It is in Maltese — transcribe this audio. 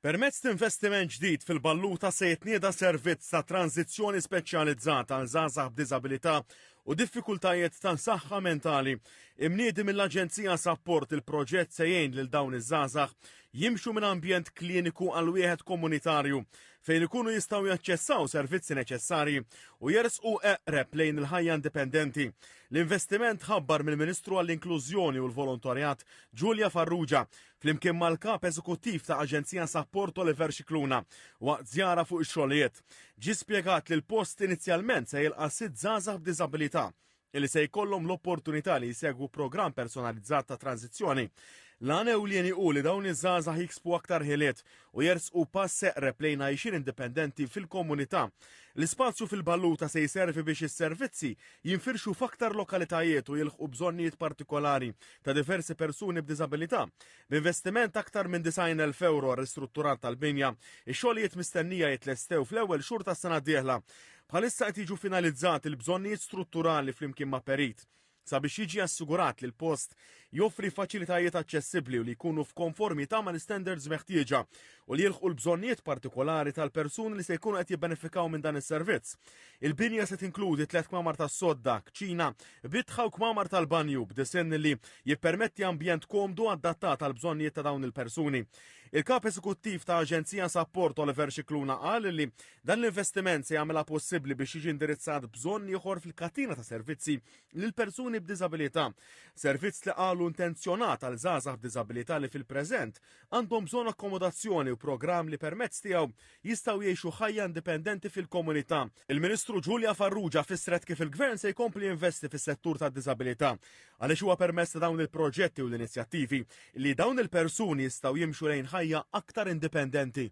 Permezz t'investiment ġdid fil-Balluta se jitnieda servizz ta' tranżizzjoni speċjalizzat għal żgħażagħ b'diżabilità u diffikultajiet ta' saħħa mentali. Imniedi mill-Aġenzija Sapport il-proġett se jgħin lil dawn iż-żgħażagħ jimxu minn ambjent kliniku għal wieħed komunitarju fejn ikunu jistgħu jaċċessaw servizzi neċessarji u jersqu eqreb lejn il-ħajja indipendenti. L-investiment ħabbar mill-Ministru għall-Inklużjoni u l-Volontarjat Ġulja Farrugia flimkien mal-Kap Eżekuttiv ta' Aġenzija Sapport Oliver Scicluna waqt żjara fuq ix-xogħlijiet. Ġie spjegat li l-post inizjalment se jilqa' sitt żgħażagħ b'diżabilità li se jkollhom l-opportunità li jsegwu programm personalizzat ta' tranżizzjoni. L-għan ewlieni hu li dawn iż-żgħażagħ jiksbu aktar ħiliet u jersqu pass eqreb lejn għajxin indipendenti fil-komunità. L-ispazju fil-Balluta se jservi biex is-servizzi jinfirxu f'aktar lokalitajiet u jilħqu bżonnijiet partikolari ta' diversi persuni b'diżabilità, b'investiment aktar minn 90,000 euro għal ristrutturar tal-binja, ix-xogħlijiet mistennija jitlestew fl-ewwel xhur tas-sena d-dieħla. Bħalissa qed jiġu finalizzati l-bżonnijiet strutturali flimkien ma' perit sabiex jiġi assigurat li l-post joffri faċilitajiet aċċessibbli u li jkunu f'konformità ma' l-istandards meħtieġa u li jilħqu l-bżonnijiet partikolari tal-persuni li se jkunu qed jibbenefikaw minn dan is-servizz. Il-binja se tinkludi tliet kmamar tas-sodda, kċina, bitħa u kmamar tal-banju b'disinn li jippermetti ambjent komdu adattat għal bżonnijiet ta' dawn il-persuni. Il-Kap Eżekuttiv ta' Aġenzija Sapport Oliver Scicluna qal li dan l-investiment se jagħmilha possibbli biex jiġi indirizzat bżonn ieħor fil-katina ta' servizzi lil persuni b'diżabilità. Servizz li qalu intenzjonat għal żgħażagħ b'diżabilità li fil-preżent għandhom bżonn akkomodazzjoni u programm li permezz tiegħu jistgħu jgħixu ħajja indipendenti fil-komunità. Il-Ministru Julia Farrugia fissret kif il-Gvern se jkompli jinvesti fis-settur tad-diżabilità għaliex huwa permezz ta' dawn il-proġetti u l-inizjattivi li dawn il-persuni jistgħu jimxu lejn ħajja aktar indipendenti.